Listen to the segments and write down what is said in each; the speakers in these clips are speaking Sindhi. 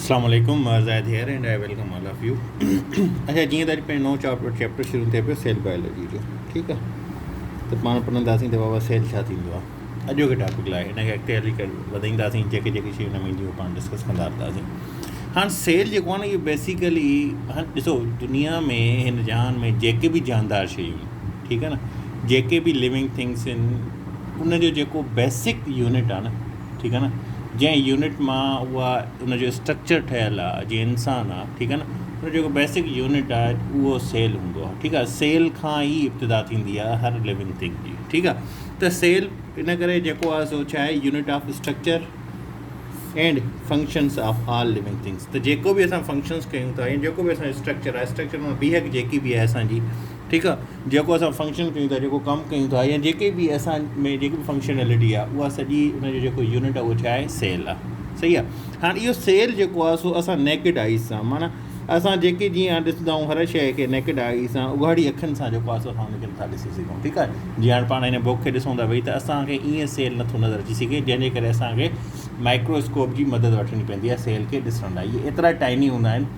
اسلام عليڪم عرض آهي dear and I welcome all of you اچا جيئن ته اڄ پنهنجو نو چاپٽر چيپٽر شروع ٿئي پيو سيل بائيولوجي جو ٺيڪ آ ته پاڻ پڙهنداسين ته بابا سيل ڇا ٿيندو آهي اڄو کي ٽاپڪ لاء ان کي اڳتي هلي ڪري وڌائينداسين جيڪي جيڪي شيون ان ۾ اينديون اهي پاڻ ڊسڪس ڪندا رهنداسين هاڻ سيل جيڪو آهي نه اهو بيسيڪلي هاڻ ڏسو دنيا ۾ هن جهان ۾ جيڪي به جاندار شيون آهن ٺيڪ آ نه جيڪي به ليونگ ٿنگس آهن ان جو جيڪو بيسڪ يونٽ آهي نه ٺيڪ آ نه جنهن يونٽ مان اها ان جو اسٽرڪچر ٺهيل آ جيئن انسان آ ٺيڪ آ نه ان جيڪو بيسڪ يونٽ آ اهو سيل هوندو آ ٺيڪ آ سيل کان ئي ابتدا ٿيندي آ هر ليونگ ٿنگ جي ٺيڪ آ ته سيل ان ڪري جيڪو آ سو ڇا آهي unit of structure and functions of all living things ته جيڪو بي اسان فنڪشنس ڪيون ٿا يا جيڪو بي اسان اسٽرڪچر آهي اسٽرڪچر مان بيهڪ جيڪي بي آهي اسانجي ٺيڪ آ جيڪو اسان فنڪشن ڪيون ٿا جيڪو ڪم ڪيون ٿا يا جيڪي به اسان ۾ جيڪي به فنڪشنلٽي آ اها سڄي ان جو جيڪو يونٽ آ اهو ڇا آهي سيل آ صحيح آ هاڻ اهو سيل جيڪو آ سو اسان نيڪڊ آئيز سان معنی اسان جيڪي جيئن ڏسندا آهيون هر شيء کي نيڪڊ آئي سان اگهاڙي اکين سان جيڪو آ سو اسان ان کي نٿا ڏسي سگهون ٺيڪ آ جيئن هاڻ پاڻ هن بوڪ کي ڏسون ٿا ويهي ته اسان کي ائين سيل نٿو نظر اچي سگهي جنهن جي ڪري اسان کي مائڪروسڪوپ جي مدد وٺڻي پوندي آ سيل کي ڏسڻ لاء اهي ايترا ٽائني هوندا آهن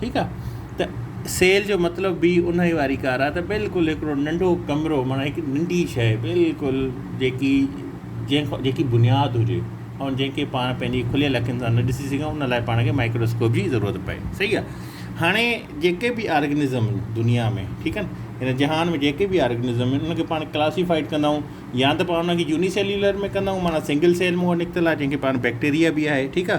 ٺيڪ آ ته سيل جو مطلب به انهي واري ڪار آ ته بلڪل هڪڙو ننڍو ڪمرو معنيٰ هڪ ننڍي شئي بلڪل جيڪي جنهن کان جيڪي بنياد هجي ۽ جنهن کي پاڻ پنهنجي کليل اکين سان نه ڏسي سگهون ان لاء پاڻ کي مائڪروسڪوپ جي ضرورت پئي صحيح آ هاڻي جيڪي به آرگنزم آهن دنيا ۾ ٺيڪ آ نه هن جهان ۾ جيڪي به آرگنزم آهن ان کي پاڻ ڪلاسيفائيڊ ڪندا آهيون يا ته پاڻ ان کي يوني سيليولر ۾ ڪندا آهيون معنيٰ سنگل سيل مون وٽ نڪتل آ جنهن کي پاڻ بيڪٽيريا به آهي ٺيڪ آ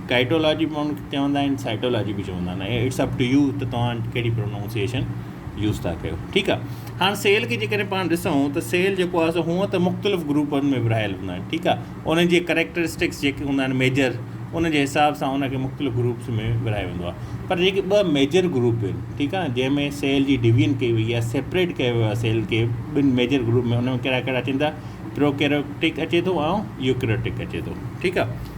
ڪائٽولاجي به ماڻهو چوندا آهن سائٽولاجي به چوندا آهن اٽس اپ ٽو يو ته توهان ڪهڙي پرونائونسيشن يوز ٿا ڪيو ٺيڪ آهي هاڻ سيل کي جيڪڏهن پاڻ ڏسون ته سيل جيڪو آهي سو هونء ته مختلف گروپن ۾ ورهايل هوندا آهن ٺيڪ آهي ان جي ڪريڪٽرسٽڪس جيڪي هوندا آهن ميجر ان جي حساب سان ان کي مختلف گروپس ۾ ورهايو ويندو آهي پر جيڪي ٻه ميجر گروپ آهن ٺيڪ آهي جنهن ۾ سيل جي ڊويجن ڪئي وئي آهي سيپريٽ ڪيو ويو آهي سيل کي ٻن ميجر گروپ ۾ ان ۾ ڪهڙا ڪهڙا اچن ٿا پروڪيروٽڪ اچي ٿو ۽ يوڪريوٽڪ اچي ٿو ٺيڪ آهي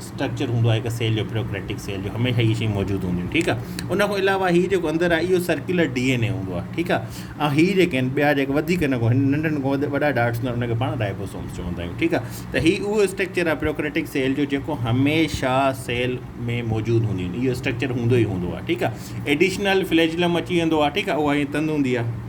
اسٽرڪچر هوندو آهي هڪ سيل جو پريوڪريٽڪ سيل جو هميشه هي شيء موجود هونديون ٺيڪ آهي ان کان علاوه هي جيڪو اندر آهي اهو سرڪيولر ڊي اين اي هوندو آهي ٺيڪ آهي ۽ هي جيڪي آهن ٻيا جيڪا وڌيڪ هن کان ننڍن کان وڌيڪ وڏا ڊارٽس هوندا ان کي پاڻ رائبوسومس چوندا آهيون ٺيڪ آهي ته هي اهو اسٽرڪچر آهي پريوڪريٽڪ سيل جو جيڪو هميشه سيل ۾ موجود هونديون اهو اسٽرڪچر هوندو ئي هوندو آهي ٺيڪ آهي ايڊيشنل فليجلم اچي ويندو آهي ٺيڪ آهي اها هي تند هوندي آهي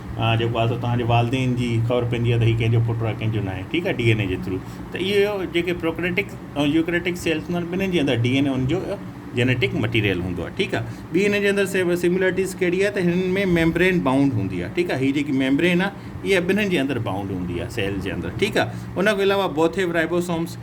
ها جيڪو آ سو توهان جي والدين جي خبر پوندي آ ته هي ڪنهن جو پٽ آ ڪنهن جو ناهي ٺيڪ آ ڊي اين اي جي ٿرو ته اهو جيڪي پروڪريٽڪ ۽ يوڪريٽڪ سيلز هوندا آهن ٻنهين جي اندر ڊي اين اي ان جو جينيٽڪ مٽيريل هوندو آ ٺيڪ آ ٻي هن جي اندر سيملرٽيز ڪهڙي آ ته هن ۾ ميمبرين بائونڊ هوندي آ ٺيڪ آ هي جيڪي ميمبرين آ اها ٻنهين جي اندر بائونڊ هوندي آ سيل جي اندر ٺيڪ آ ان کان علاوه بوٿيف رائبوسومز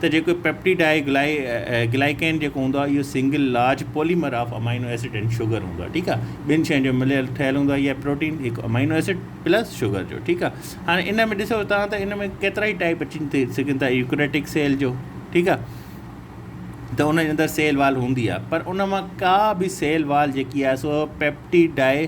ته جيڪو پيپٽيڊ آهي گلائيڪين جيڪو هوندو آهي اهو single large polymer of amino acid and sugar هوندو آهي ٺيڪ آهي ٻن شين جو مليل ٺهيل هوندو آهي اها پروٽين هڪ امائنو ايسڊ پلس شوگر جو ٺيڪ آهي هاڻي ان ۾ ڏسو تان ته ان ۾ ڪيترا ئي ٽائپ اچي ٿي سگهن ٿا يوڪريٽڪ سيل جو ٺيڪ آهي ته ان جي اندر سيل وال هوندي آهي پر ان مان ڪا به سيل وال جيڪي آهي سو پيپٽيڊ آهي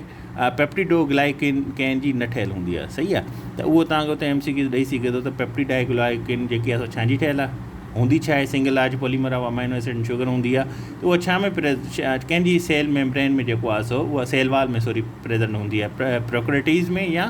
پيپٽيڊوگلائيڪين ڪين جي نه ٺهيل هوندي آهي صحيح آهي ته اهو توهان کي اتي ايم سي ڪيو ڏئي سگهي ٿو ته پيپٽيڊاگلائيڪين جيڪي آهي سو ڇا جي ٺهيل آهي هوندي ڇا آهي single large polymer of amino acid and sugar هوندي آهي ته اهو ڇا ۾ ڪين جي سيل ميمبرين ۾ جيڪو آهي سو اهو سيل وال ۾ سوري پريزنٽ هوندي آهي پروڪريٽيز ۾ يا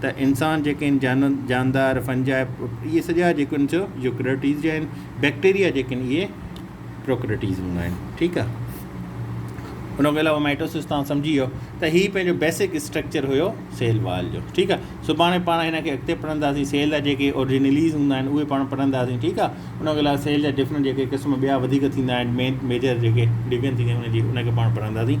ته انسان جيڪي آهن جانور جاندار فنجاء اهي سڄا جيڪي آهن سو يوڪريٽيز جا آهن بيڪٽيريا جيڪي آهن اهي پروڪريٽيز هوندا آهن ٺيڪ آهي ان کي علاوه مائٽوسس تان سمجھي ويو ته هي پنهنجو بيسڪ اسٽرڪچر هيو سيل وال جو ٺيڪ آهي سڀاڻي پاڻ هن کي اڳتي پڙهنداسين سيل جا جيڪي اورجنليز هوندا آهن اهي پاڻ پڙهنداسين ٺيڪ آهي ان کي علاوه سيل جا ڊفرنٽ جيڪي قسم ٻيا وڌيڪ ٿيندا آهن مين ميجر جيڪي ڊويجن ٿيندا آهن ان جي ان کي پاڻ پڙهنداسين